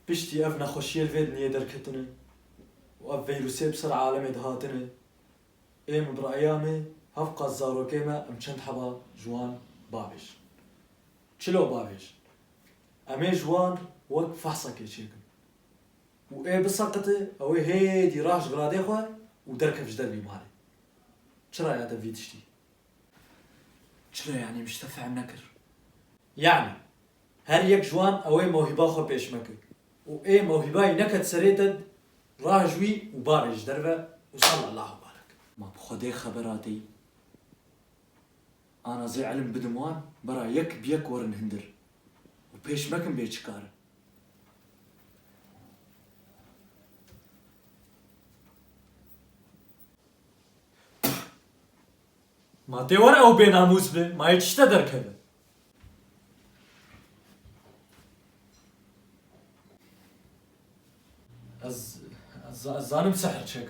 Piştî ev nexweşiyê vê dinyê derketine û ev vîrusê bi ser alemê dihatine, êm û bi re'eya me hev qas zarokê me em çend heba ji wan bavêj. Çilo bavêj. Em ê ji wan wek fehsekê çêkin û ê biseqite ewê hêdî rah ji viradê xwe û derkev ji dervî malê. Çira ya te vî tiştî? Çilo yanî min ji te fehm nekir. Yanî her yek ji wan ewê mewhîba xwe pêşme kir û ê mewhîbayî neket serê te rahij wî û bavê ji derve û sal Allahu barek. Ma bi Xwedê xeber ateyî. Ana zê îlim bidim wan bera yek bi yek werin hindir û pêşme kin bê çi kar e. Ma tê were ew bênamûs be, ma yê tişte derkeve. Ez, ez, ez zanim sihr çek.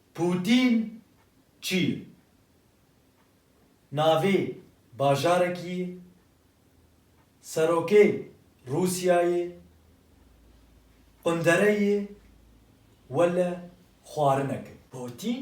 Pûtîn çi ye? Navê bajarekî ye? Serokê Rûsyayê? Qundere ye? Wele xwarinek e. Pûtîn?